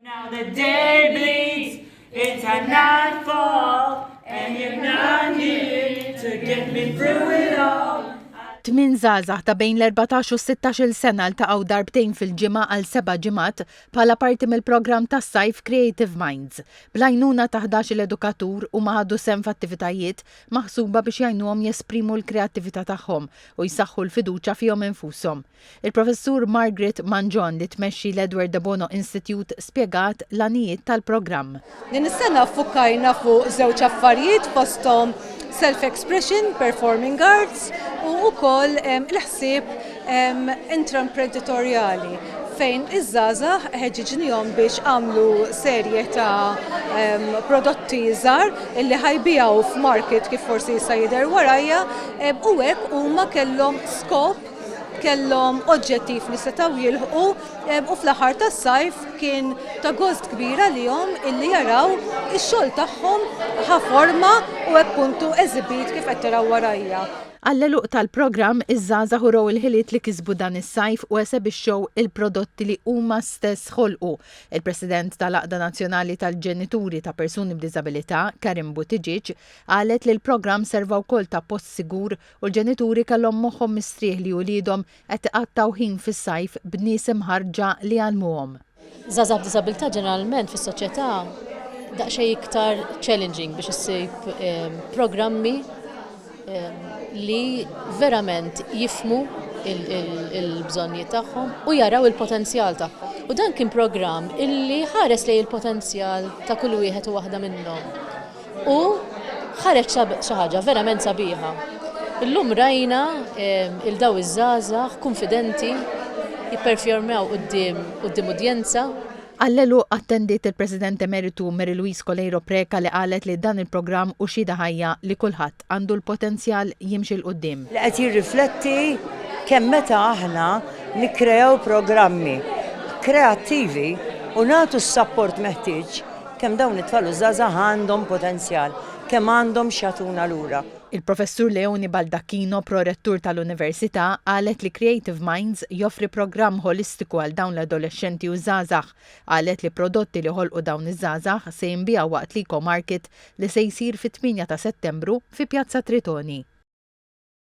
Now the day bleeds into nightfall and you're not here to get me through it all. Tmin żgħażagħ ta' bejn l-14 u 16-il sena ltaqgħu darbtejn fil-ġimgħa għal seba' ġimgħat bħala parti mill-programm tas-sajf Creative Minds. Bl-għajnuna ta' 11-il edukatur huma ħadu sehem f'attivitajiet maħsuba biex jgħinuhom jesprimu l-kreattività tagħhom u jsaħħu l-fiduċja fihom infushom. Il-Professur Margaret Mangion li tmexxi l-Edward de Bono Institute spjegat l-għanijiet tal-programm. Din is-sena ffukkajna fuq żewġ affarijiet fosthom self-expression, performing arts u wkoll il-ħsieb intraimprenditorjali fejn iż-żgħażagħ ħeġġiġnihom biex għamlu serje ta' prodotti żgħar illi ħajbiegħu f'market kif forsi jista' jidher warajja u hekk huma kellhom skop kellhom oġġettiv li setgħu jilħqu u fl-aħħar tas-sajf kien ta' gost kbira lihom illi jaraw ix-xogħol tagħhom ħa forma u hekk puntu eżibit kif qed taraw warajja. Għall-għeluq tal-programm, iż-żgħażagħ urew il-ħiliet li kisbu dan is-sajf u esebixxew il-prodotti li huma stess ħolqu. Il-President tal-Għaqda Nazzjonali tal-Ġenituri ta' Persuni b'Diżabilità, Karin Buttigieg, qalet li l-programm serva wkoll ta' post sigur u l-ġenituri kellhom moħħhom mistrieħ li uliedhom qed iqattgħu ħin fis-sajf b'nies imħarrġa li jgħallmuhom. Żgħażagħ b'diżabilità ġeneralment fis-soċjetà daqsxejn iktar challenging biex issib programmi li verament jifhmu il-bżonnijiet tagħhom u jaraw il-potenzjal tagħhom. U dan kien programm illi ħares lejn il-potenzjal ta' kull wieħed u waħda minnhom. U ħareġ xi ħaġa verament sabiħa. Illum rajna il daw iż-żgħażagħ kunfidenti jipperfjormaw quddiem quddiem udjenza Għall-għeluq attendiet il-President Emeritu Mary Louise Coleiro Preca li qalet li dan il-programm hu xhieda ħajja li kulħadd L-East għandu l-potenzjal jimxi 'l quddiem. Li qed jirrifletti kemm meta aħna nikkreaw programmi kreattivi u nagħtu s-sapport meħtieġ, kemm dawn it-tfal u ż-żgħażagħ għandhom potenzjal, kemm għandhom x'jagħtuna lura. Il-Professur Leone Baldacchino, Pro-Rettur tal-Università, qalet li Creative Minds joffri programm ħolistiku għal dawn l-adolexxenti u ż-żgħażagħ. Qalet li prodotti li ħolqu dawn iż-żgħażagħ se jinbiegħu waqt l-Eco Market li se jsir fit-8 ta' Settembru fi Pjazza Tritoni.